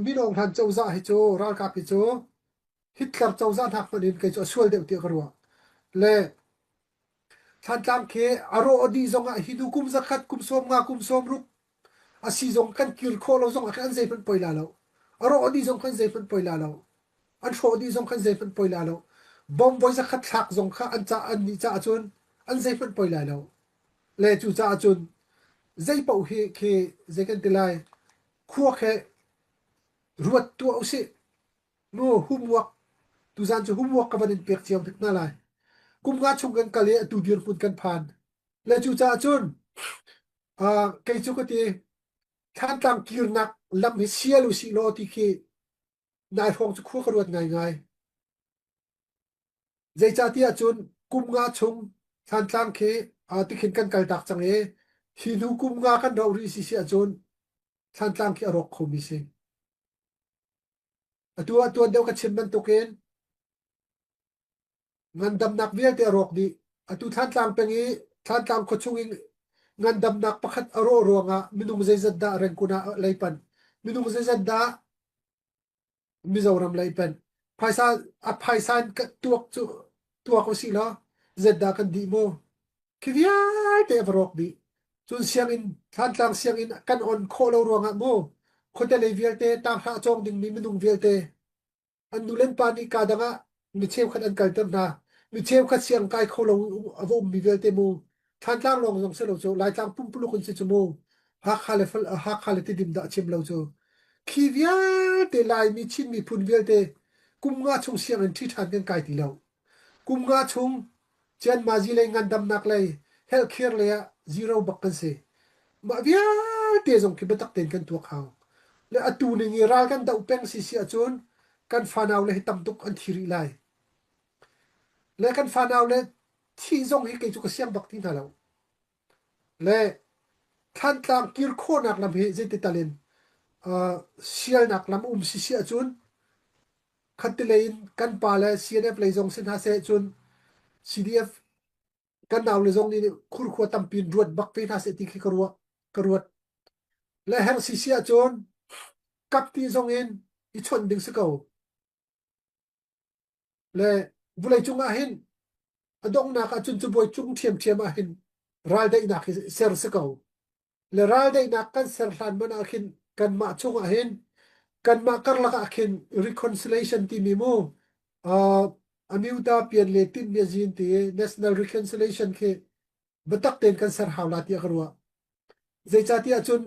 Minung hlan cozah hi cu ralkap hi cu Hitler cozah hnak hmanh in kei cu a sual deuh tiah ka ruah. Le Thlantlang khi a rawh a dih zong ah hi nu kum zakhat kum sawm nga kum sawm ruk a si zong kan kir khawh lo zong ah khan zeihmanh poi la lo. A rawh a dih zong khan zeihmanh poi la lo. An hrawh dih zong khan zeihmanh poi la lo. Bomb voi zakhat thlak zong kha an ca an nih caah cun an zeihmanh poi lai lo. Le cu caah cun zei paoh hi khi zei kan ti lai Khuak hi ruat tuah usih. Nu humwak, tuzaan cu humwak ka van in pek cio hnik hna lai. Kum nga chung kan kal i atu dirhmun kan phan. Le cu caah cun uh, kei cu ka ti thantlang kirnak lam hi sial u si law ti khi nai hrawng cu khua ka ruat ngaingai. Zeicatiah cun kum nga chung Thlantlang khi tikhin kan kaltak cang i hi hnu kum nga kan ro rih si si ahcun Thlantlang khi a rawk khomi si. Atu ah tuan deuh ka chim bantukin ngandamnak vialte a rawk dih. Atu Thlantlang peng i Thlantlang khua chung in ngandamnak pakhat a rawh ruangah minung zeizat dah rengkun ah leipan. Minung zeizat dah Mizoram lei pen phaisa a phaisa in tuak cu tuak u si law zetdah kan di mu khi vialte a va rawk dih cun sianginn thantlang sianginn kan on khawh lo ruangah mu khuate lei vialte tang hlah cawng dingmi minung vialte an nu len pa nih ka dang ah mi cheukhat an kalter hna mi cheukhat siang kai kho lo a vomi vialte mu thlantlang lawng zong si lo cu laitlang pumpuluk in si cu mu hakha le hakha le tidim dah chim lo cu khi vialte laimi chin miphun vialte kum nga chung siang in ṭhi ṭhan kan kai ti lo kum nga chung Cianmazi lei ngandamnak lei helhkhir lei ah zero bak kan si. Mah vialte zong khi biatak tein kan tuak hau. Le atu ning i ral kan doh peng si si ahcun kan fanau le hi tam tuk an thi rih lai. Le kan fanau le thih zong hi kei cu ka siang bak ti hna lo. Le Thlantlang kir khawhnak lam hi zeitital in uh, sialnak lam um si si ahcun khatilei in kan pa le CNF lei zong si hna se cun CDF kan nau le zong nih khurkhua tampin ruat bak ve hna se ti khi ka ruat ka ruat le heng si si ahcun kapti zong in i chawnh ding si ko le vulei cungah hin a donghnak ahcun cu bawi cung ṭhiamṭhiam ah hin raldaihnak hi ser si ko le raldaihnak kan ser hlan man ah khin kanmah chungah hin kanmah karlak ah khin reconciliation timi mu uh, amyuta pian le tin ne zin ti national reconciliation khi bitak ten kan ser hawla ti ka ruwa zeicatiah cun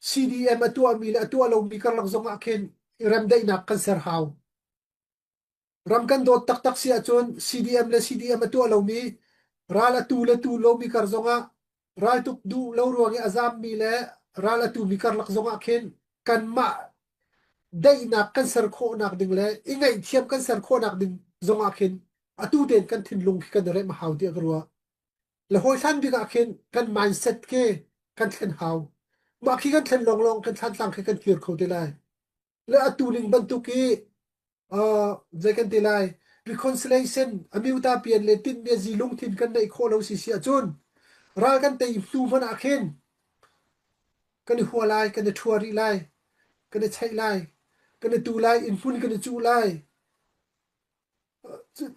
CDM a tuahmi le a tuah lomi karlak zongah khin i remdaihnak kan ser hau. Ram kan dawt taktak si ahcun CDM le CDM a tuah lomi ral a tu le tu lomi kar zongah raltuk duh lo ruang i a zammi le ral a tumi karlak zongah khin kanmah daihnak kan ser khawhnak ding le i ngaihthiam kan ser khawhnak ding zongah khin atu ten kan thinlung khi kan i remh hau tiah ka ruah. Le hawi hlan bik ah khin kan mindset ke kan thlen hau. Mah khi kan thlen lawnglawng kan thlantlang khi kan kir kho te lai. Le atu ning bantuk i uh, zei kan te lai reconciliation amiuta pian le tin ne zi lungthin kan nei kho lo si si achun ral kan te hnu hman ah khin kan i hua lai kan i thua ri lai kan i chei lai kan i tu lai in mun kan i chu lai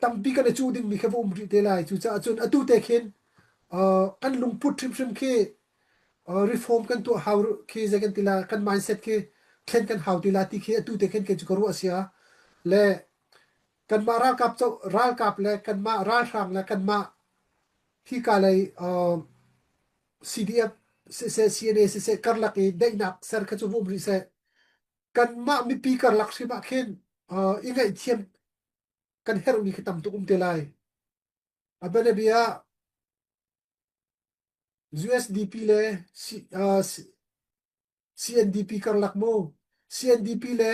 tampi kan i cu dingmi kha va um rih te lai cucaah cun atu te khin kan lungput hrimhrim khi reform kan tuah hau khi zei kan tila kan mindset khi thlen kan hau tila ti khi atu te khin ke cu ka ruah sia le kanmah ralkap ralkap le kanmah ralhrang le kanmah hi ka lei CDF sise CNA sise karlak i daihnak ser kha cu vum rih seh kanmah mipi karlak hrim ah khin uh, i ngaihthiam kan herhmi khi tam tuk um te lai a bianabia USDP le C, uh, CNDP karlak mu CNDP le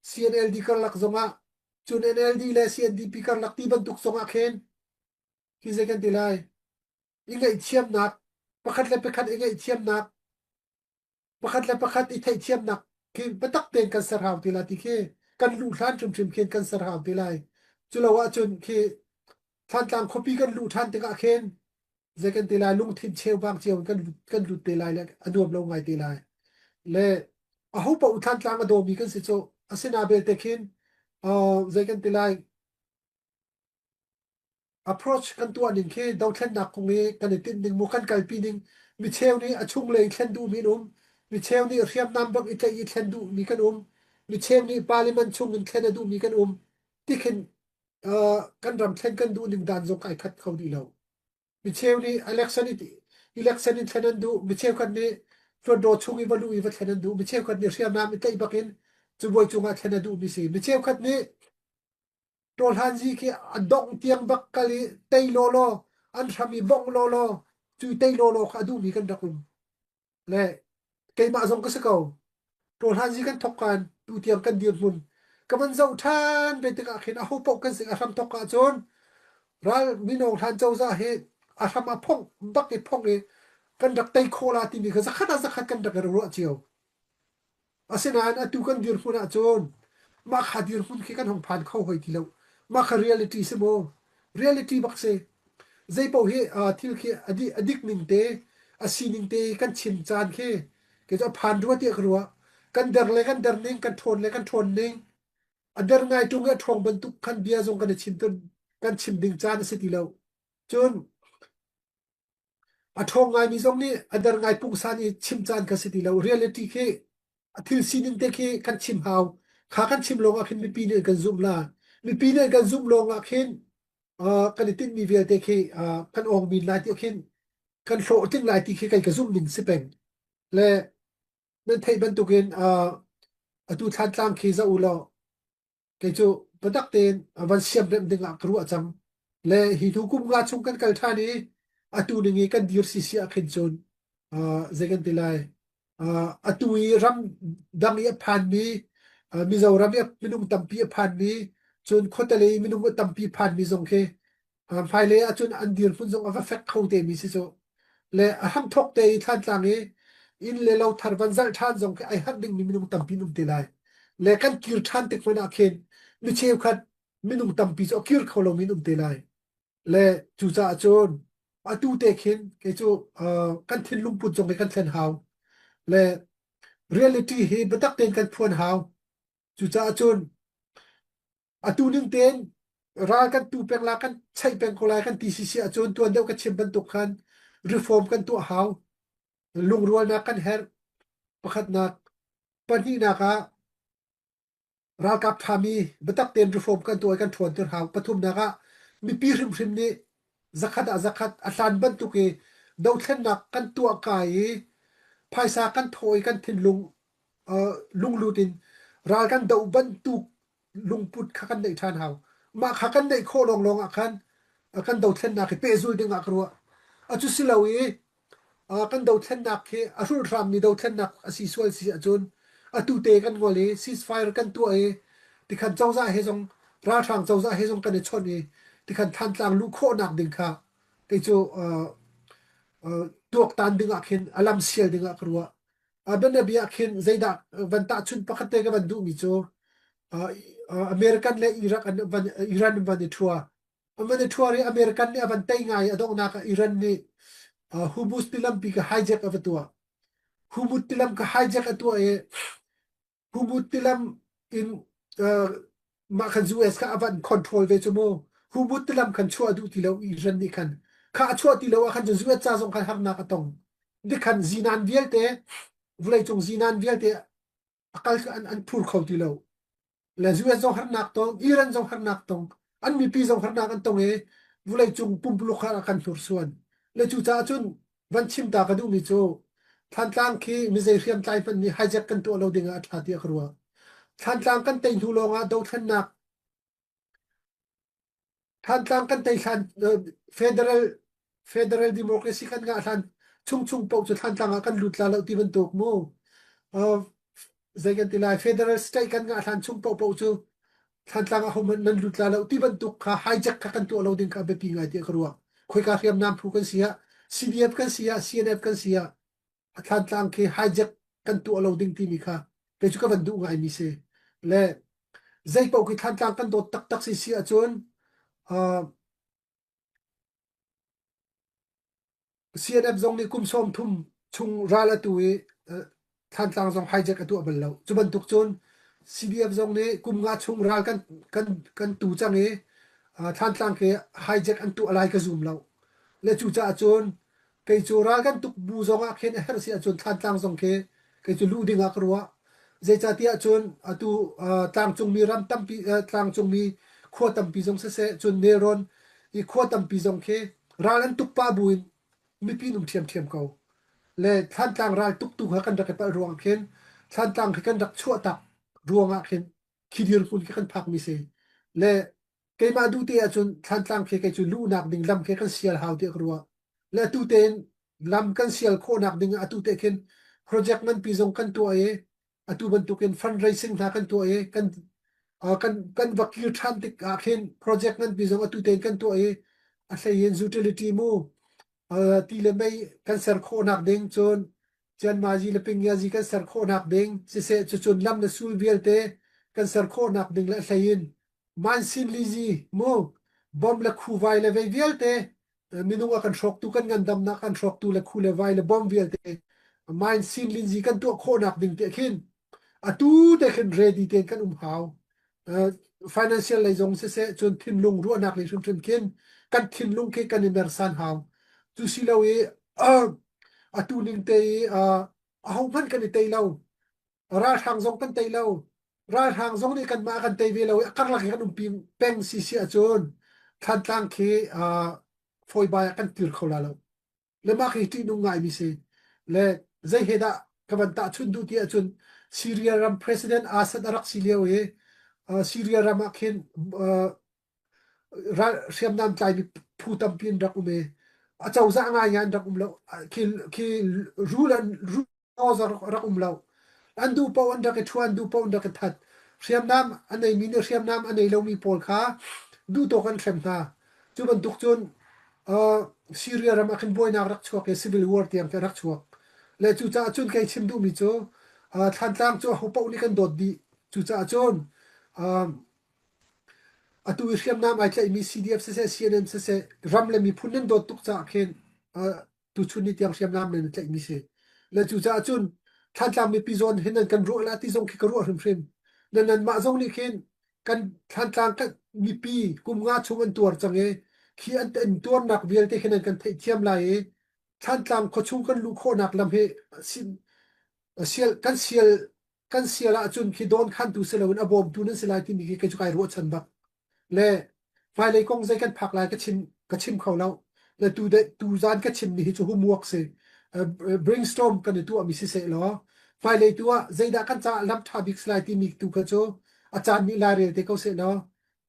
CNLD karlak zongah cun NLD le CNDP karlak ti bantuk zongah khin hi zei kan ti lai i ngaihthiamnak pakhat le pakhat i ngaihthiamnak pakhat le pakhat i theihthiamnak khi biatak tein kan ser hau te lai ti khi kan luh hlan hrimhrim khin kan ser hau te lai cu lo ahcun khi thlantlang khuapi kan luh ṭhan tikah khin zei kan te lai lungthin cheuvang cio kan kan lut te lai le a nuam lo ngai te lai le a ho pa thlantlang a dawmi kan si cu asina belte khin uh, zei kan ti lai approach kan tuah ning khi dothlennak kong i kan i tinh ning mu kan kalpi ning micheu nih a chunglei thlen duhmi in um micheu nih hriamnam bak i tlaih i thlen duhmi kan um micheu nih parliament chung in thlen a duhmi kan um tikhin uh, kan ram thlen kan duh ning dan zong kai khat kho dih lo micheu nih election election in thlen an duh micheu kan nih hlawtdo chung i valu i va thlen an duh micheu kan nih hriamnam i tlaih bakin cubuai cungah thlen a duhmi si micheu khat nih Tawhlanzi khi a dongh tiang vak kal i tei lawlaw an hram i bongh lawlaw cu tei lawlaw kha a duhmi kan rak um le keimah zong ka si ko tawhlanzi kan thok kan tu tiang kan dirhmun ka van zoh ṭhan ve tikah khin aho paoh kan sing a hram thok ahcun ral minong hlan cozah hi a hram a phong bak i phong i kan rak tei khola timi kha zakhat a zakhat kan rak i ruah cio Asinain atu kan dirhmun ahcun mah kha dirhmun khi kan hong phan kho hoi ti lo. Mah kha reality si maw? Reality bak si. Zeipaoh hi thil khi a dik ning te, a sining te kan chim caan khi kei cu a phan rua tiah ka ruah. Kan der le kan der ning, kan ṭhawn le kan ṭhawn ning, a der ngai ṭung i a ṭhawng bantuk khan bia zong kan i chim ding caan a si ti lo. Cun A ṭhawng ngaimi zong nih a der ngai pungsan i chim caan ka si ti lo. Reality khi a thil sining te khi kan chim hau. Kha kan chim lawngah khin mipi nih an kan zumh la. Mipi nih an kan zumh lawngah khin uh, kan i tinhmi vialte khi uh, kan awng men lai ti khin kan hlawhtling lai ti khi kai ka zumh ning si peng. Le nan theih bantukin uh, atu thlan tlang khi za u law kei cu biatak tein a van siam rem ding ah ka ruah cang le hi hnu kum nga chung kan kal ṭhan i atu ning i kan dir si si ah khin cun uh, zei kan ti lai uh, atu i ram dang i a phanmi uh, Mizoram i minung tampi a phanmi cun khuatelei minung a tampi phanmi zong khi hmailei ah cun an dirhmun zong a va fek kho te mi si cu le a hramthok te i thlantlang i inn le lo thar van zarh ṭhan zong khi ai harh dingmi minung tampi an um te lai le kan kir ṭhan tik hmanh ah khin mi cheukhat minung tampi cu a kir kho lomi an um te lai le cucaah cun atu te khin kei cu kan thinlung put zong hi kan thlen hau le reality hi biatak tein kan phuan hau cucaah cun Atu ning tein ral kan tu pek la kan chaih peng ko lai kan ti si si ahcun tuan deuh ka chim bantuk khan reform kan tuah hau lungrualnak kan herh pakhatnak pahnihnak ah ralkap ṭhami biatak tein reform kan tuah i kan ṭhuan ter hau pathumnak ah mipi hrimhrim nih zakhat ah zakhat a hlan bantuk i dothlennak kan tuah ka i phaisa kan thaw i kan thinlung uh, lunglut in ral kan do bantuk lungput kha kan neih ṭhan hau mah kha kan neih khawh lawnglawng ah khan kan dothlennak hi pehzul ding ah ka ruah a cu si lo i kan dothlennak hi a hrulhrangmi dothlennak a si sual si ahcun atu te kan ngol i ceasefire kan tuah i tikhan cozah he zong ralhrang cozah he zong kan i chawnh i tikhan thantlang luh khawhnak ding kha kei cu tuaktan dingah khin a lam sial dingah ka ruah a bianabi ah khin zeidah van tahchunh pakhat te ka van duhmi cu American le Iraq an van Iran van i thua Aman i thuar i American nih a van tei ngai i a donghnak ah Iran nih uh, Humus tilam pi ka hijack a va tuah. Humut tilam ka hijack a tuah i Humut tilam in uh, mah khan US kha avan control ve chu mu. Humut tilam khan chuah duh ti lo Iran nih khan. Kha a chuah ti lo ah khan cu US ca zong khan harnak a tong. Dikhan zinan vialte, vulei cung zinan vialte akal kha an an phur kho ti lo le US zong harnak tong Iran zong harnak tong an mipi zong harnak an tong e vulei cung pumpuluk kha kan hnursuan le cu caah cun van chim ta ka duhmi cu thantlang khi mizei hriamtlai hmanh nih hijack kan tuah lo ding ah a thla tiah ka ruah thantlang kan tei hnu lawng ah dothlennak Thantlang kan tei hlan federal federal democracy kan ngah hlan chung chung paoh cu Thantlang ah kan lut la lo ti bantuk mu. Uh, zei kan ti lai federal state kan ngah hlan chung paoh paoh cu Thantlang ah hom nan lut la lo ti bantuk kha hijack kha kan tuah lo ding kha biapi ngai tiah ka ruang. Khoika hriamnam phu kan si ah CDF kan si ah CNF kan si ah a thlantlang khi hijack kan tuah lo ding timi kha kei cu ka van duh ngaimi si le zei paoh khi thlantlang kan dawt taktak si si ahcun uh, CNF zong nih kum sawm thum chung ral atu i thlantlang zong hijack a tuah bal lo cu bantuk cun CBF zong nih kum nga chung ral kan kan kan tu cang i thlantlang ke hijack an tuah lai ka zum lo le cucaah cun Kei cu ral kan tuk bu zong ah khin a herh si ahcun Thlantlang zong khi kei cu luh ding ah ka ruah. Zeicatiah cun atu uh, tlangcungmi ram tampi uh, tlangcungmi khua tampi zong siseh cun nelrawn i khua tampi zong khi ral an tuk pa bu in mipi nung ṭhiamṭhiam ko. Le Thlantlang ral tuk tu kha kan rak i palh ruang khin Thlantlang khi kan rak chuah tak ruang ah khin khi dirhmun khi kan phakmi si. Le Keimah duh te ahcun Thlantlang khi kei cu luhnak ding lam khi kan sial hau tiah ka ruah. Le atu tein lam kan sial khawhnak ding ah atu te khin project nganpi zong kan tuah i atu bantukin fundraising hna kan tuah i kan uh, kan kan va kir ṭhan tik ah khin project nganpi zong atu tein kan tuah i a hlei in utility mu uh, ti le mei kan ser khawhnak ding cun Cianmazi le Pingiazi kan ser khawhnak ding siseh cucun lam le sul vialte kan ser khawhnak ding le hlei in Mansin lizi mu bom le khu vai le vei vialte minung a kan hrawktu kan ngandamnak an hrawktu le khu le vai le bom vialte mansin linzi kan tuah khawhnak ding te khin atu te khin ready ten kan um hau financial lei zong siseh cun thinlung ruahnak lei hrimhrim khin kan thinlung khi kan i mersan hau cu si lo i atu ning te i a ho hmanh kan i tei lo ralhrang zong kan tei lo ralhrang zong nih kanmah kan tei ve lo i a karlak i kan umpi peng si si ahcun thlantlang khi fawibai ah kan tir kho la lo le mah khi ṭihnung ngaimi si le zei he dah ka van tahchun duh ti ahcun Syria ram president Assad a rak si lio i Syria ram ah khin hriamnam tlaimi phu tampi an rak um i a cozah ngaingai an rak um lo khi khi rul an laws rak um lo an duh paoh an rak i ṭhu an duh paoh an rak i that hriamnam a neimi nih hriamnam a nei lomi pawl kha duhtawk an hrem hna cu bantuk cun syria ram ah khin buainak rak chuak i civil war tiang khi rak chuak le cucaah cun kei chim duhmi cu thlantlang cu ahopaoh nih kan dawt dih cucaah cun Atu i hriamnam ai tlaihmi CDF siseh, CNN siseh, ram le miphun nan dawt tuk caah khin tuchun ni tiang hriamnam nan i tlaihmi si. Le cucaah cun Thlantlang mipi zawn hin nan kan ruah lah ti zong khi ka ruah hrimhrim. Na nanmah zong nih khin kan Thlantlang kan mipi kum nga chung an tuar cang i khi an tuarnak vialte hi nan kan theihthiam lai i Thlantlang khuachung kan luh khawhnak lam hi kan sial kan sial ahcun khi dawn khantu si loin a bawmtu nan si lai timi khi kei cu kai ruahchan bak le hmailei kong zei kan phak lai ka chim ka chim kho lo le tu de tu zan ka chim ni hi cu humuak si brainstorm kan i tuah mi si se law hmailei tu ah zeidah kan caah lam tha bik si lai timi tu kha cu a caan nih la rel te ko se law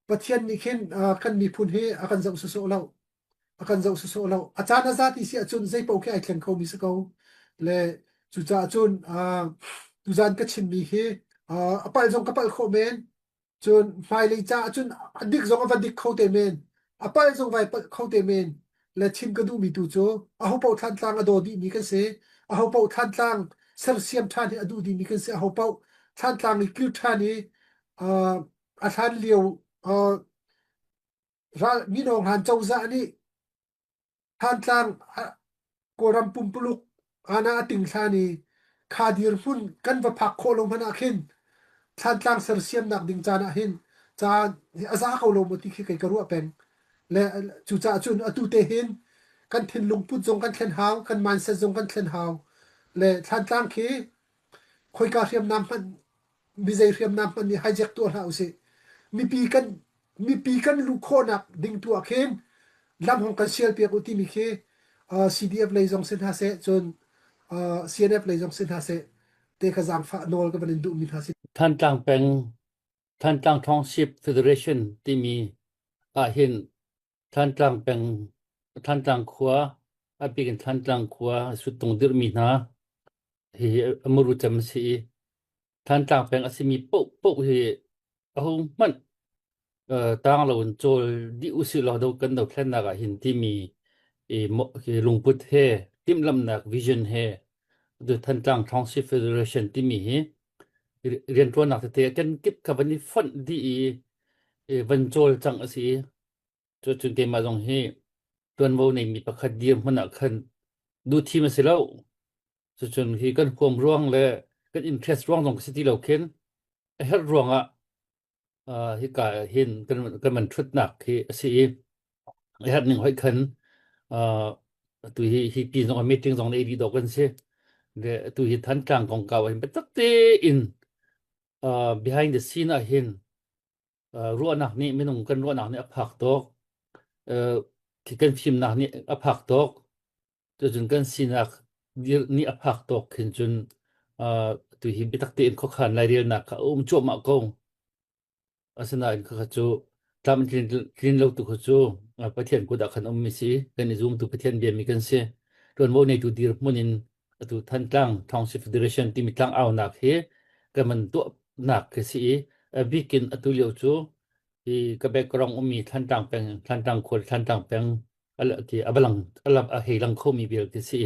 Pathian nih khin kan miphun hi a kan zoh sawsawh lo a kan zoh sawsawh lo a caan a za ti si ahcun zei paoh khi ai thleng khomi si ko le cucaah cun tuzan ka chimmi hi a palh zong ka palh khawh men cun hmailei caah cun a dik zong a va dik kho te men a palh zong vai palh kho te men le chim ka duhmi tu cu aho paoh thlantlang a daw dihmi kan si aho paoh thlantlang sersiam ṭhan hi a duh dihmi kan si aho paoh thlantlang i kir ṭhan i a hlan lio ral mino ngan cozah nih hantlang kawlram pumpuluk ana ating hlan i kha dirhmun kan va phak khawh lo hmanh ah khin thlantlang sersiamnak ding caan ah hin caan a za ko lo mo ti khi kai ka ruah peng le cucaah cun atu te hin kan thinlung put zong kan thlen hau kan mindset zong kan thlen hau le thlantlang khi khoika hriamnam hmanh mizei hriamnam hman nih hijack tuah hlah usih. Mipi kan mipi kan luh khawhnak ding tuah khin lam hong kan sial piak u timi khi uh, CDF lei zong sin hna se cun uh, CNF lei zong sin hna se te ka zangfa nawl ka van in duh mi hna si Thantlang peng Thantlang Township Federation timi ah hin Thantlang khua, a bik in Thantlang khua suttung dirhmi hna hihi a muru cem a si i Thantlang peng a simi paohpaoh hi ahohmanh tang loin cawl dih usih law do kan dothlennak ah hin timi hi lungput he timhlamhnak vision he Thantlang Township Federation timi hi rianṭuannak tete a kenkip kha van i fonh dih i van cawl cang a si. Cucu te mah zong hi tuanvo neimi pakhat dirhmun ah khan duhthim a si lo. Cucun hi kan huam ruang le kan interest ruang zong ka si ti lo khin a herh ruang ah uh, hika hin kan kan man ṭhutnak hi a si i a herh ning hoih khan uh, atu hi hi pi zong a meeting zong na ei dih dawk kan si le atu hi Thantlang kongkau ah hin biatak tein uh, behind the scene ah hin ruahnak nih minung kan ruahnak nih a phak tuk kan fimnak nih a phak tuk cun kan sinak nih a phak tuk khin cun tu hi biatak tein khuakhan lairelnak kha a um cuahmah ko asinain khakha cu tlam tlin tlin lo tu khu cu Pathian kut ah khan ummi si kan i zumtu Pathian biami kan si tuanvo neitu dirhmun in atu Thantlang Township Federation timi tlang aunak hi kan man tuahnak khi si i abikin atu lio cu hi ka background ummi Thantlang peng Thantlang khual Thantlang peng ti avalang alam a hei lang khomi vial khi si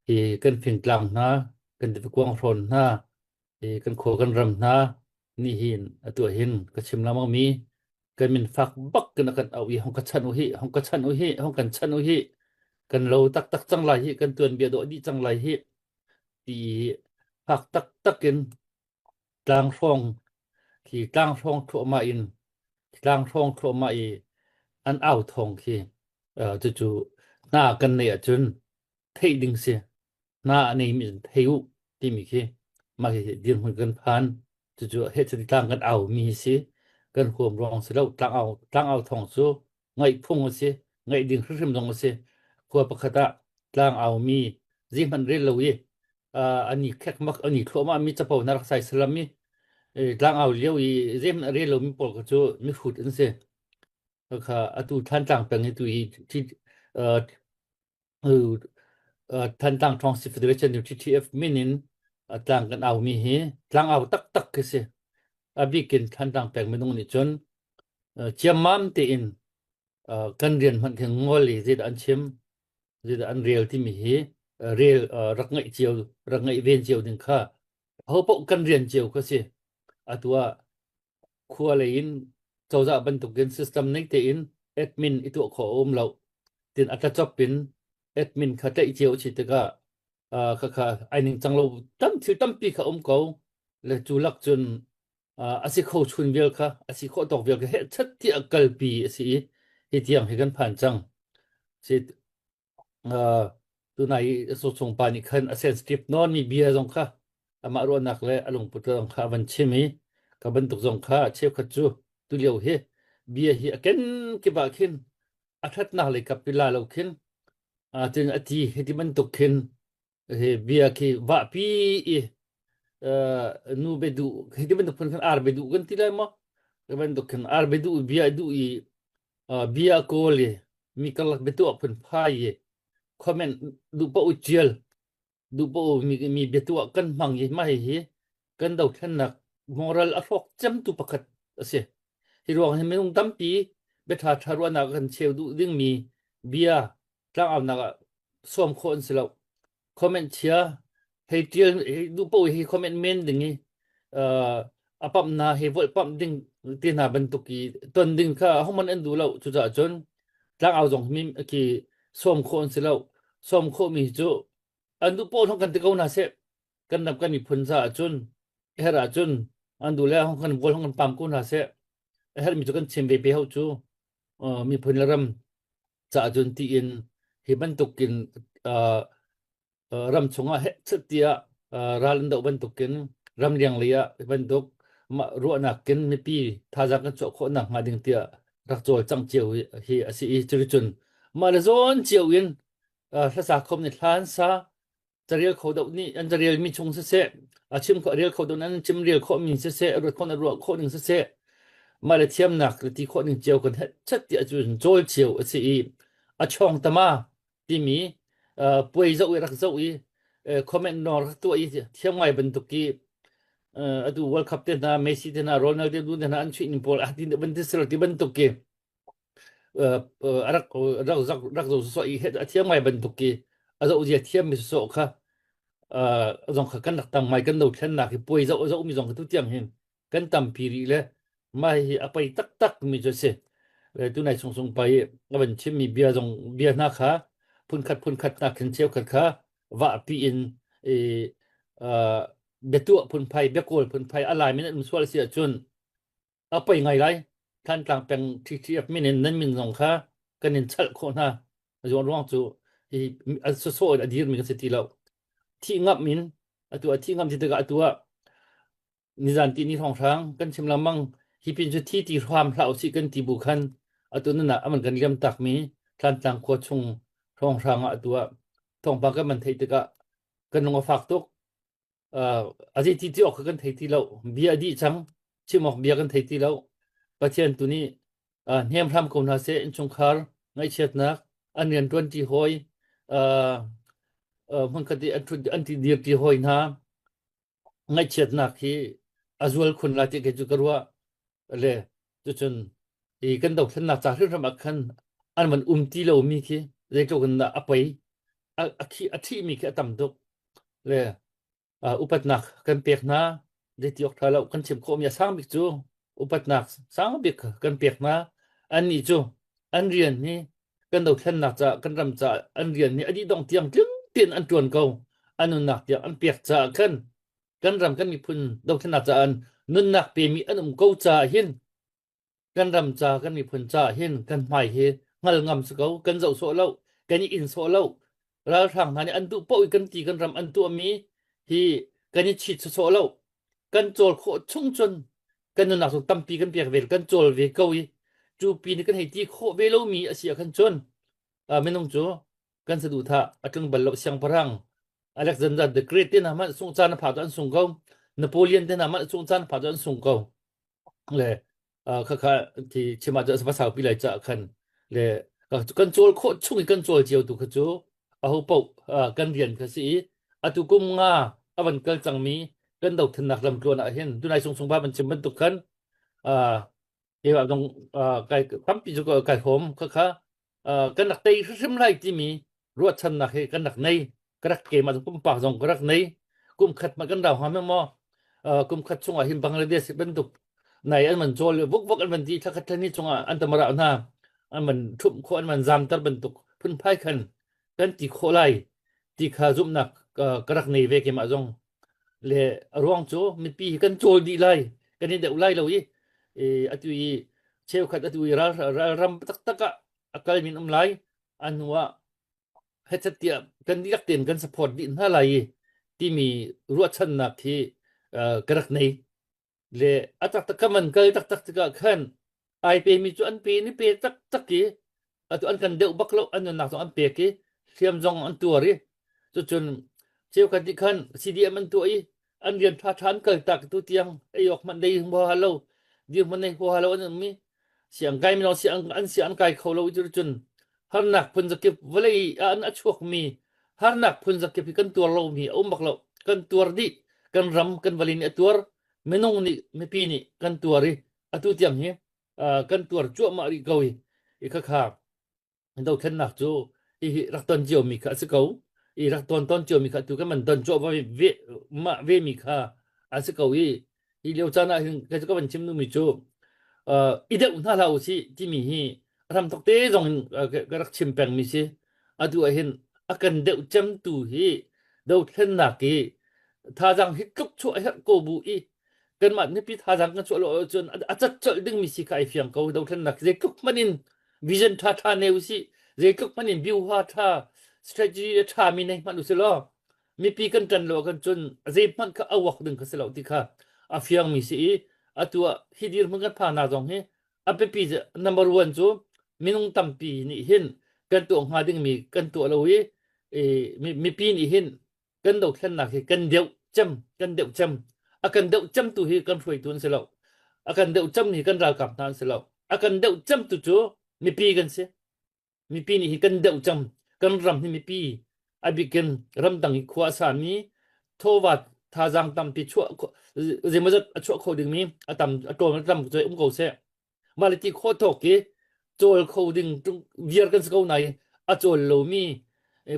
hi kan fingtlang hna kan ti kuang hrawn hna i kan khua kan ram hna ni hin atu hin ka chim lamang mi kan min fak bak kin kan au i hong ka chan u hi hong ka chan u hi hong kan chan u hi kan lo taktak cang lai hi kan tuan bia dawh dih cang lai hi ti fak taktak in tlang hrawng khi tlang hrawng thluahma in tlang hrawng thluahma i an au thong khi uh, cucu hna kan nei ahcun theih ding si na a nei mi thei u timi khi mah khi dirhmun kan phan cucu he chati tlang kan au mi si kan huam ruang si lo tlang au tlang au thong cu ngaih phung si ngaih ding hrimhrim dong si khua pakhat ah tlang au mi zi hman rel lo i ani khek mak ani thluama mi chapo na rak sai salam mi tlang au lio i zi hman rel lo mi pol ka cu mi hut in si kha atu than tlang peng hi tu hi thi uh, uh, Thantlang Trong Si Federation nu TTF min in uh, tlang kan au mi hi tlang au tak tak khi si abikin Thantlang peng minung nih cun uh, chiamam te in uh, kan rian hman khi ngol i zit an chim zit an rel ti mi hi uh, rel uh, rak ngai cio rak ngai ven cio ding kha ho po kan rian cio kha si atua khua lei in cozah bantukin system nei tein admin i tuah khawh a um lo. Tin a tlachop in admin kha tlaih cio a si tikah uh, khakha ai ning cang lo tam thil tampi kha um ko le cu lak cun uh, a si kho chun vial kha a si khawh tawk vial kha he chat ti a kalpi a si i hi tiang hi kan phan cang si Uh, tunai so chung pa nih khan a sensitive non mi bia zong kha amah ruahnak le a lungput zong kha a van chim i ka bantuk zong kha cheukhat cu tu lio hi bia hi a ken kiba khin a thatnak lei kap pila lo khin a tin a ti hiti bantuk khin Hi bia khi vahpi i uh, nu be du hi ti bantuk khan ar be du kan ti lai ma ti bantuk khan ar be du bia du i uh, bia ko li mi kalak betu phun phai i comment du pa u chial du pa u mi mi betu kan mang hi mai hi kan dothlennak moral a hrawk cemtu pakhat a si. Hi ruang hi minung tampi biatha tha ruahnak kan cheu duh dingmi bia tlangaunak ah suam khawh an si lo. Comment chia hei tial hei du po hi comment men ding i uh, apam na he vol pam ding ti na bantuk i ton ding kha homan an du lo cu ca chun tlangau zong mi ki suam khawh an si lo suam khawh mi cu an du po thong kan ti ko na se kan ram kan miphun ca ahcun a her ahcun an du le hong kan vol hong kan pam ko hna seh a her mi cu kan chim ve pe hau cu miphun le ram ca ahcun ti in hi bantukin ram chungah chutiah ral an doh bantukin ram liang lei ah bantuk mah ruahnak kin mipi thazang kan chuah khawh nak hnga ding tiah rak cawl cang cio hi a si i curi cun mah le zawn cio in hlasa khom ni hlan sa Carel kho dot nih an carel mi chung siseh, a chim khawh rel kho dot an chim rel khawh mi siseh, ruat khawh na ruah khawh ning siseh, mah le thiamnak ti khawh ning cio kan het chat ti ahcun cawl cio a si i a chawng tama timi uh, puai zoh i rak zoh i uh, comment nor rak tuah i thiam ngai bantuk i uh, atu World Cup te hna Messi te hna Ronaldo tu te hna an chuih ning pawl ah tin bantuk ti bantuk ki rak rak rak rak zo so i a thiam ngai bantuk i a zo zia thiam mi so kha zong kha kan rak tang mai kan do thlen nak hi puai zo zo mi zong tu tiang hin kan tam pi ri le mai hi a pai tak tak mi cho si tu nai sung sung pai a ban chim mi bia zong bia na kha phun khat phun khat na khen cheu khat kha wa pi in e betua phun pai bekol phun pai alai min um sual si achun a poi ngai lai Thantlang peng TTF min in nan min zong kha kan in chalh khawh hna zuan ruang cu hi an soso a dir mi kan si ti lo thi ngap min atu a thi ngam ti tikah atu ah nizan ti ni thong hrang kan chim lamang hi pin cu thi ti hram hlau si kan ti bu khan atu nana aman kan liam tak mi Thantlang khua chung thong hrang ah atu ah thong pa kan man thei tikah kan lung a fak tuk Uh, a dih ti ti awk kan thei ti lo. Bia a dih cang. Chim awk bia kan thei ti lo. Pathian tu nih uh, hnem hram ko hna se inchungkhar ngaihchiatnak an rian tuan ti hoi uh, uh, hmankhat i an thut an ti dir ti hoi hna ngaihchiatnak hi a zual khun la ti ke chu ka ruah le cucun i kan dothlennak ca hrimhrim ah khan an van um ti lomi khi zeitluk in dah a pei a, a, khi, a thihmi khi a tam tuk le uh, upatnak kan pek hna zeiti awk tha lo kan chim khawhmi a sang bik cu upatnak sang bik kan pek hna annih cu an rian hi kan dothlennak ca kan ram ca an rian hi a dih dong tiang tling tein an tuan ko an nunnak tiang an pek caah khan kan ram kan miphun dothlennak caah nunnak pemi an um ko caah hin kan ram ca kan miphun caah hin kan hmai hi ngal ngam si ko kan zoh sawh lo kan i in sawh lo ralhrang hna nih an duh poh i kan ti kan ram an tuahmi hi kan i chit sawh lo kan cawl khawh chung cun kan nunnak chung tampi kan pek ve kan cawl ve ko i cu pi ni kan hei ti khawh ve lomi a si ah khan cun minung cu kan saduhthah a tling bal lo siang parang Alexander the Great te na man sung chan pha to an sung ko Napoleon te na man sung chan pha to an sung ko le kha kha thì chima cho sa sau pi lai cha khan le kan chol kho chung kan chol chiu tu kha chu a ho po kan rian kha si atu kum nga avan kal chang mi kan do than nak lam tluan a hin dunai sung sung ba ban chim ban tuk khan Ewa dong kai tampi ju kai hom ka kha kan rak tei hrim lai timi ruahchan nak hi kan rak nei ka rak ke ma kum pak zong ka rak nei kum khat ma kan rau ha me mo kum khat chung ah hin Bangladesh bantuk nai an man jol vuk vuk an man ti thakhat thani chung ah an tamara na an man thup kho an man zam tar bantuk phun phai khan kan ti kho lai ti kha zum nak ka rak nei ve ke ma zong Le a ruang cu mipi hi kan cawl dih lai, kan i deuh lai lo i, e, atu i cheukhat atu i ral, ral ram taktak ah a kal min um lai, a hnu ah hetcatiah kan dihlak tein kan support dih hna lai i timi ruahchannak hi uh, ka rak nei. le a taktak ka man kal taktak tikah khan ai pe mi cu an pe ni pe tak tak i atu an kan deuh bak lo an nunnak zong an pek i hriam zong an tuar i cucun cheukhat nih khan CDM an tuah i an rian ṭha ṭha an kal tak tu tiang ei awk hmanh dei hua lo dir hmanh ei hua lo an um i Siang kai mino siang an siang an kai kho lo ti cun harnak phun zakip vawlei ah an a chuak mi harnak phun zakip hi kan tuar lo mi a um bak lo kan tuar dih kan ram kan vali nih a tuar minung nih mipi nih kan tuar i atu tiang hi kan tuar cuahmah rih ko i i khakha Dothlennak cu i rak ton cio mi kha a si ko. I rak ton ton cio mi kha tu kan man don chuah va ve ma ve mi kha a si ko i hi leo chan ah hin kai ka van chim nu mi cu uh, i deuh hna hla u si ti mi hi ram thok te zong in uh, ka rak chim peng mi si atu ah hin a kan deuh cem tu hi dothlennak i thazang hi tluk chuah herh ko bu i kanmah nipi thazang kan chuah lo ahcun a cat chalh ding mi si kha ai fiang ko dothlennak zei tluk man in vision tha tha ne u si zeitluk man in view hwa tha strategy a tha mi nei hman u si lo mipi kan tan lo kan chun zei hman kha awak ding kha si lo ti kha a fiang mi si i atu hi dir hmun kan pha na zong hi apepi number 1 chu minung tampi ni hin kan to nga ding mi kan to lo hi mi pi ni hin kan dothlennak hi kan deuh cem kan deuh cem a kan deuh cem tu hi kan hruaitu an si lo a kan deuh cem hi kan ralkap hna an si lo a kan deuh cem tu cu mipi kan si mipi nih hi kan deuh cem kan ram hi mipi abikin ramdang hi khua a sami thova thazang tampi chuah zeimawzat a chuah kho dingmi a tam a ṭawm a tam cu um ko seh mah le ti kho thok ki col kho ding viar kan si ko nai a col lomi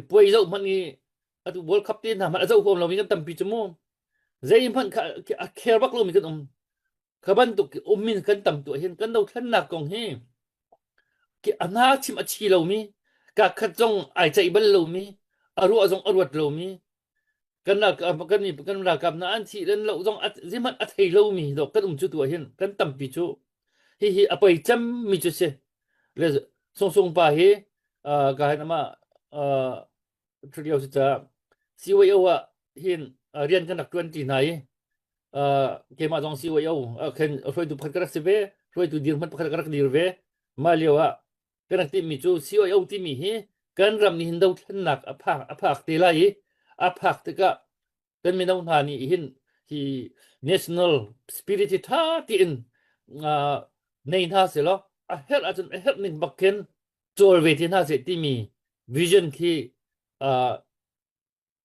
puai zau hman i atu world cup te hna hman a zau huam lomi kan tampi chu mu zei hman a care bak lomi kan um khaban tuk umin kan tam tu hin kan do thlan nak kong hi ki ana chim a chi lomi ka khat zong ai chai bal lomi aru zong aruat lomi kan ralkap kan kan ralkap hna an thih dan lo zong zihmanh a thei lomi dok kan um cu tu hin kan tampi cu hi hi a poi cem mi cu si le sung sung pa hi ka hin ama thrio si ta CYO ah hin rian kan rak tuan ti hna i keimah zong CYO khen hruaitu pakhat ka rak si ve hruaitu dir hmanh pakhat ka rak dir ve mah lio ah Kan rak timhmi cu COO timi hi kan ram nih hin dothlennak a phak a phak te lai i a phak tikah kan mino hna nih hin hi national spirit hi tha tiin uh, nei hna selaw a herh ahcun a herh ning bak khin cawl ve te hna seh timi vision khi uh,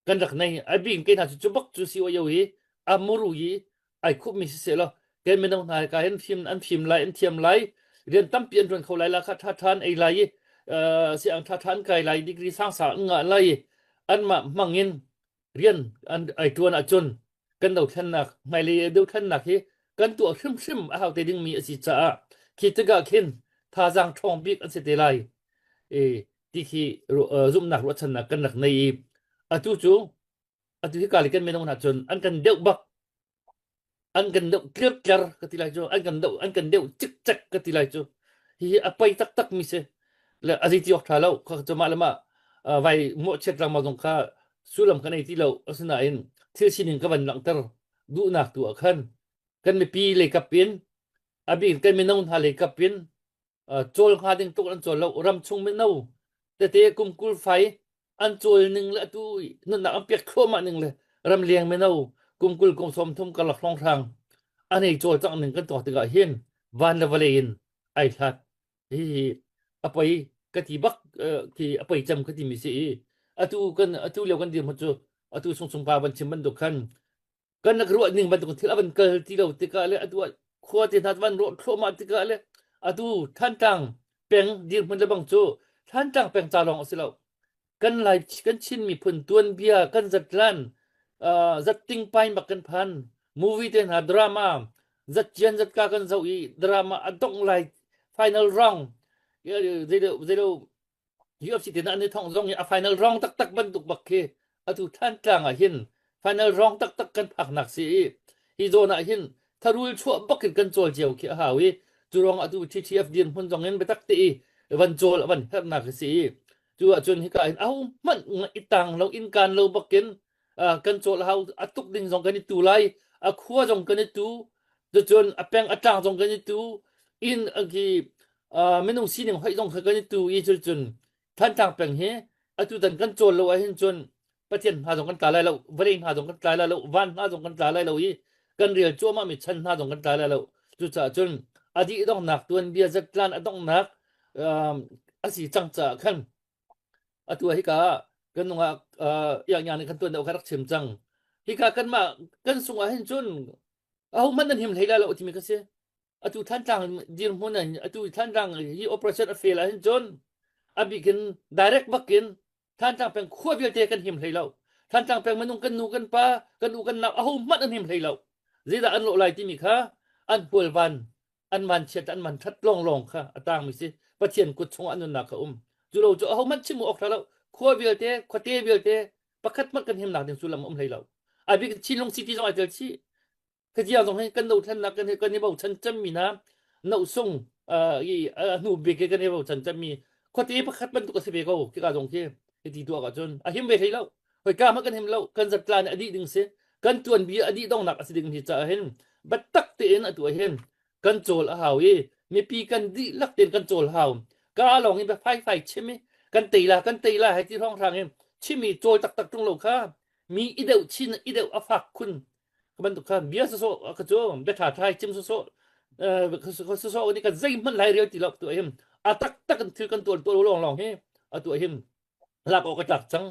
kan rak nei ai bing ke hna cu bak cu si o yo hi a muru yi ai khup mi si se lo ke meno hna ka hen thim an thim lai an thiam lai rian tampi an ruan kho lai la kha tha than ei lai si ang tha than kai lai degree sang sang nga lai an ma mangin rian an ai tuan a chun kan do thlen nak mai le do thlen nak hi kan tu hrim hrim a hau te ding mi a si cha khi te ga khin tha jang thong bik an se te lai e tihi zumhnak ruahchannak kan rak nei i atu cu atu hi kali kan menong hna cun an kan deuh bak an kan deuh tlir tler ka ti lai cu an kan deuh an kan deuh cik cek ka ti lai cu hihi a pei tak tak mi se le a zeiti awk tha lo kha cu mah le mah vai mo chiat rang ma zong kha sullam kan ei ti lo asinain thil sining ka van langhter duhnak tu ah khan kan mipi leikap in abik kan minong hna leikap in cawl hnga ding tuk an cawl lo ram chung mino tete kum kul fai an cawl ning le tu nunnak an piat khawma ning le ram leng mino kum kul kum som thum ka lak rong rang an ei cawl cang ning kan to tikah hin van le vale in ai hlat hi apai ka ti bak ki apai cham ka ti mi si i atu kan atu leo kan dir mu chu atu sung sung pa ban chim ban duk khan kan nak ruah ning bantuk thil avan kal ti lo tikah le atu khua te hna van ro thloma tikah le atu thantlang peng dir hmun le bang cu thantlang peng ca lawng si lo kan lai kan chin miphun tuan bia kan zat lan zat ting pain bak kan phan movie te hna drama zat jian zat ka kan zo i drama adong lai final round zelo zelo UFC tin an i thong zong in a final round taktak bantuk bak khi atu than tlang ah hin final round taktak kan phak nak si i hi zon ah hin tharul chuah bak in kan chol cio khi a hau i curong atu TTF din hmun zong in betak te i van chol van her nak si i chu ah cun hika in au man itang lo in kan lo bakin kan cawl hau a tuk ding zong kan i tu lai a khua zong kan i tu cun a peng a tlang zong kan i tu in ki minung sining hoih zong kan i tu i cun cun thantlang peng hi atu tan kan cawl lo ahhin cun pathian hna zong kan tla lai lo vawlei hna zong kan tla lai lo van hna zong kan tla lai lo i kan rel cuahmah mi chan hna zong kan tla lai lo cucaah cun a dih dongnak tuan bia zatlan a dongnak a si cang caah khan Atu ah hika kan nung ah uh, iangiang nih kan tuan deuh ka rak chim cang. Hika kanmah kan sung ah hin cun aho hmanh an him hlei la lo timi ka si. Atu Thantlang dirhmun in atu Thantlang hi operation a fail ah hin cun abikin direct bakin Thantlang peng khua vialte kan him hlei lo. Thantlang peng minung kan nu kan pa kan u kan nau aho hmanh an him hlei lo. Zeidah an lo lai timi kha an pualvan an van chiat an man that long long kha atang mi si pathian kut chung an nunna kha um cu lo chu ho man chimu ok lo khua vialte khuate vialte pakhat mat kan him nak ding sullam um hlei lo abik chinlung city zong aitel chi khajia zong hin kan no thlan nak kan kan i bo chan cham mi na no sung i hnu bik ke kan i bo chan cham mi khuate pakhat man tu ka se ve ko ki ka zong khi ti tu ka chun a him ve hlei lo hoi ka ma kan him lo kan zat tla nih a dih ding si kan tuan bi a dih dongnak a si ding hi ca hin battak tein a tuai hin kan chol a hau i mipi kan dih lak tein kan chol hau ka lawng in ba fai fai chim i kan teila kan teila hai ti rong hrang in chimi chol tak tak tung lo kha mi ideu chin ideu a fak khun kaman tu kha bia so so ka chu be tha thai chim so so so so ni kan zei hman lai real ti lok tu him atak tak kan thil kan tual tual long long hi atu him lak awk ka tlak cang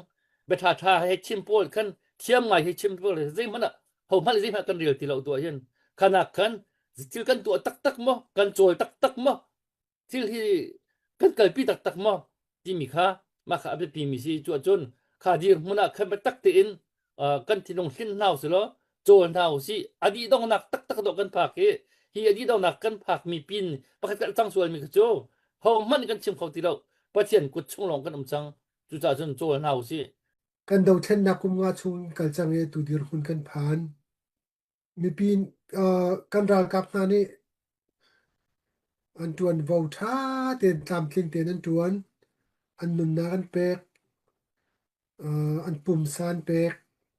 betha tha he chim pawl khan thiam ngai he chim pawl zei hmana ho hmal zei hmana kan rel ti lo tu hin khanak khan thil kan tuah taktak mo kan chawl taktak mo thil hi kan kalpi taktak mo timi kha maka abiapi mi si chu cun kha dir hmun ah khan ba tak te in kan thinlung hlim hna usih law cawl hna usih a dih dongnak taktak dawh kan phak hi hi a dih dongnak kan phak mi pin pakhat kan cang sual mi kha cu hong hmanh kan chim kho ti lo pathian kut chung lawng kan um cang cucaah cun cawl hna usih kan dothlennak kum nga chung in kal cang i tu dirhmun kan phan mipi kan ralkap hna nih an ṭuan vo ṭha tein tlamtling tein an ṭuan an nunnak an pek an pumsa an pek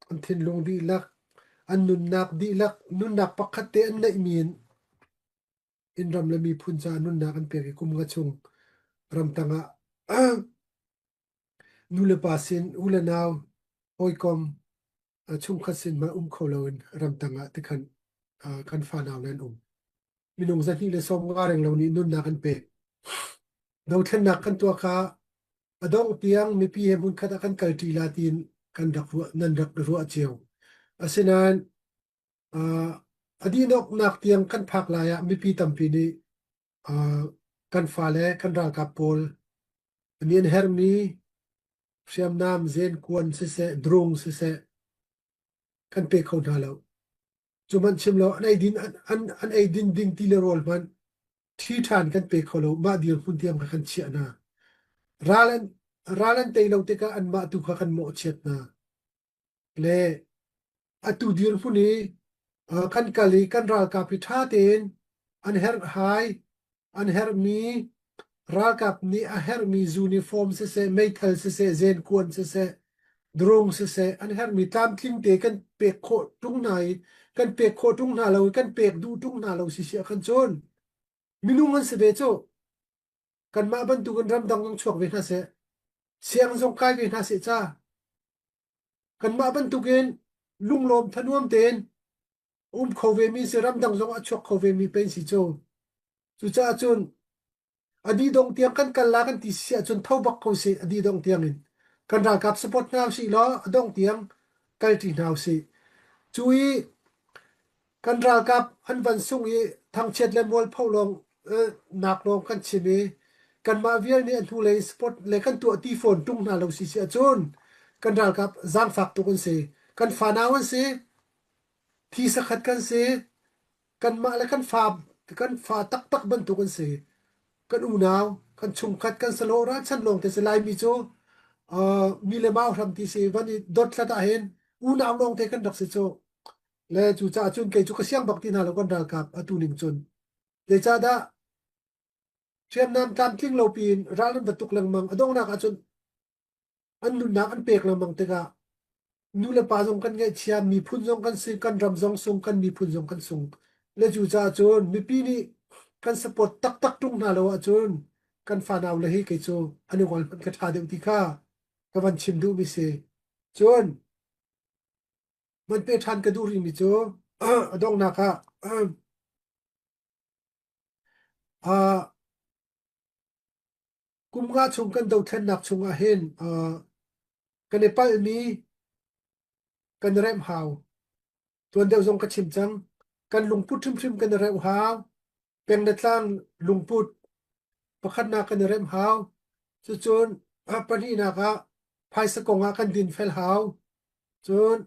an thinlung dihlak an nunnak dihlak nunnak pakhat te an neihmi in in ram le miphun caah nunnak an pek i kum nga chung ramtang ah nu le pa sin u le nau hawikom a chungkhat sin mah um kho loin ramtang ah tikhan kan fanau nan um minung zahnih le som nga reng lo nih nunnak an pek dothlennak kan tua kha adong tiang mipi he mun khat kan kal ti la tin kan rak nan rak ruwa chiu asinain adi nok nak tiang kan phak lai ah mipi tampi nih Uh, kan fale kan ralkap pawl an in hermi hriamnam zen kuan siseh drung siseh kan pe kho hna lo cu man chim lo an eidin an an, an eidin ding ti le rol man thi than kan pe kho lo ma dir hun tiam ka kan chia na ralan ralan te lo te ka an ma tu kha kan mo chiat na le atu dirhmun i kan kal i kan ralkap hi ṭha tein an herhhai an herhmi ralkap nih a herhmi uniform siseh meithal siseh zenkuan siseh drone siseh an herhmi tlamtling te kan pek khawh ṭung hna i kan pek khawh ṭung hna lo i kan pek duh ṭung hna lo si sia kan cun minung an si ve cu kanmah bantukin ramdang zong chuak ve hna seh siang zong kai ve hna seh ca kanmah bantukin lunglawm thanuam tein um kho ve mi si ramdang zong ah chuak kho ve mi pei si cho cucaah cun adi dong tiang kan kal la kan ti si ahcun tho bak ko si adi dong tiang in kan ralkap support hna si law adong tiang kal ṭi hna si cu i Kan ralkap an van sung i thangchiat le mualpho lawng nak lawng kan chim i kanmah vial nih a hnulei sport le kan tuah ti fawn ṭung hna lo si si ahcun kan ralkap zaangfak tuk an si. Kan fanau an si, thi sakhat kan si, kanmah le kan fa kan fa taktak bantuk an si. Kan unau, kan chungkhat kan salo ra chan lawng te si laimi cu mi le mau hram ti si van i dot hlat ah hin unau lawng te kan rak si cu. le cucaah cun kei cu ka siang bak ti hna lo kan ralkap atu ning cun zeicahdah hriamnam tlamtling lo piin ral an va tuk lengmang a donghnak ah cun an nunnak an pek lengmang tikah nu le pa zong kan ngaihchia miphun zong kan si kan ram zong sung kan miphun zong kan sung le cucaah cun mipi nih kan support taktak tung hna lo ahcun kan fanau le hi kei cu an i ngol hmanh ka ṭha deuh ti kha ka van chim duhmi si cun Hman pe ṭhan ka duh rihmi cu a donghnak ah ah, kum nga chung kan dothlennak chungah hin ah, kan i palhmi kan i remh hau. Tuan deuh zong ka chim cang. Kan lungput hrimhrim kan i remh hau. peng le tlang lungput pakhatnak kan i remh hau cucun ah pahnihnak ah phaisa kong ah kan din fel hau cun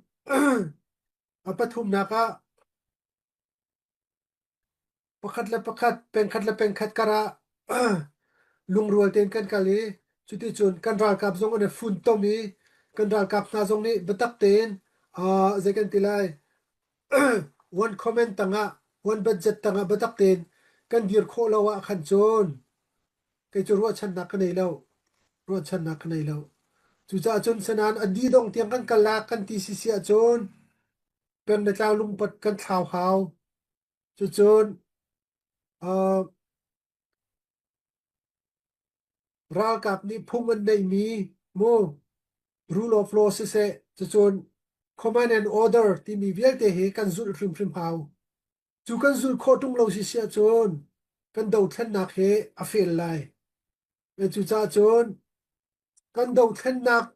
a pathumnak ah pakhat le pakhat pengkhat le pengkhat kar ah lungrual tein kan kal i cuti cun kan ralkap zong an i funtom i kan ralkap hna zong nih biatak tein zei kan ti lai Vuan comment tangah, vuan budget tangah biatak tein kan dir khawh lo ah khan cun kei cu ruahchannak ka nei lo. Ruahchannak ka nei lo. Cucaah cun senan adi dong tiang kan kalak kan ti sisi ah cun peng le tlau lungpat kan thlau hau. Cucun uh, Ralkap nih phung an neihmi mu, rule of law siseh, cucun command and order timi vialte hi kan zulh hrimhrim hau. Cu kan zul khawh ṭung lo si si ahcun kan dothlennak hi a fail lai. Cucaah cun kan dothlennak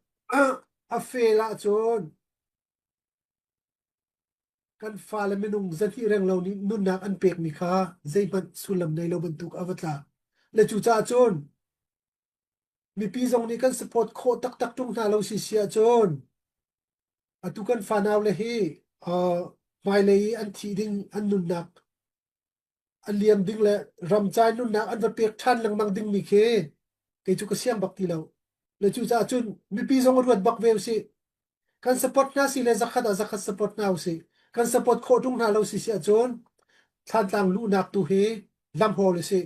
a fail ahcun Kan fale minung zahnih renglo nih nunnak an pekmi kha zeihmanh sullam nei lo bantuk a va tlak. Le cucaah cun mipi zong nih kan support khawh taktak ṭung hna lo si si ahcun atu kan fanau le hi uh, hmailei i an thih ding an nunnak a liam ding le ramcai nunnak an va pek ṭhan lengmang dingmi khi kei cu ka siang bak ti lo le cucaah cun mipi zong ruat bak ve usih kan support hna si le zakhat ah zakhat support hna usih kan support khawh ṭung hna lo si si ahcun thlantlang luhnak tu hi lamhawl usih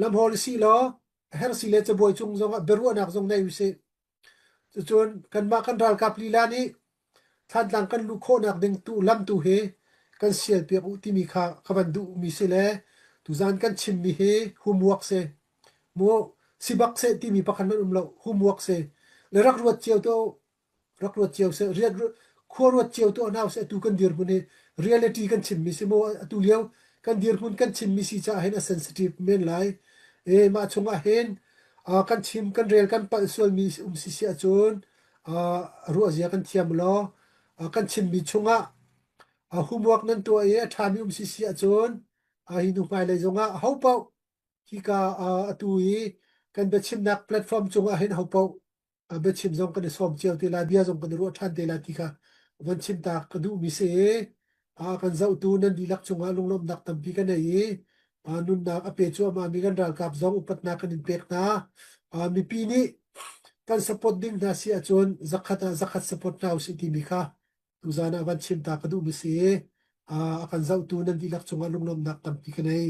lamhawl si law a herh si le cabuai cung zong ah biaruahnak zong nei usih Cucun kanmah kan ralkap lila nih Thlantlang kan luh khawhnak ding tu lam tu hi kan sialpiak uh timi kha ka van duh mi si le tuzan kan chimmi hi humwak si mu sibak se timi pakhat man um lo humwak si le rak ruat cio to rak ruat cio se riat khua ruat cio to nau se tu kan dir hmun hi reality kan chimmi si mo atu lio kan dirhmun kan chimmi si caah hin a sensitive men lai e mah chungah hin kan chim kan rel kan palh sualmi um si si ahcun ruahzia kan thiam law kan chimmi chungah homework nan tuah i a ṭhami um si si ahcun hi nu hmailei zongah ho paoh hika atu i kan biachimnak platform cungah hin ho paoh a biachim zong kan i sawm cio te lai bia zong kan i ruah ṭhan te lai ti kha van chim ta ka duhmi si a kan zohtu nan dihlak cungah lunglawmhnak tampi ka nei i a nunnak a pe cuahmahmi kan ralkap zong upatnak kan in pek hna a mipi nih kan support ding hna si ahcun zakhat ah zakhat support hna usih timi kha tuzan ah van chim ta ka duhmi si a kan zohtu nan dihlak cungah lunglawmhnak tampi ka nei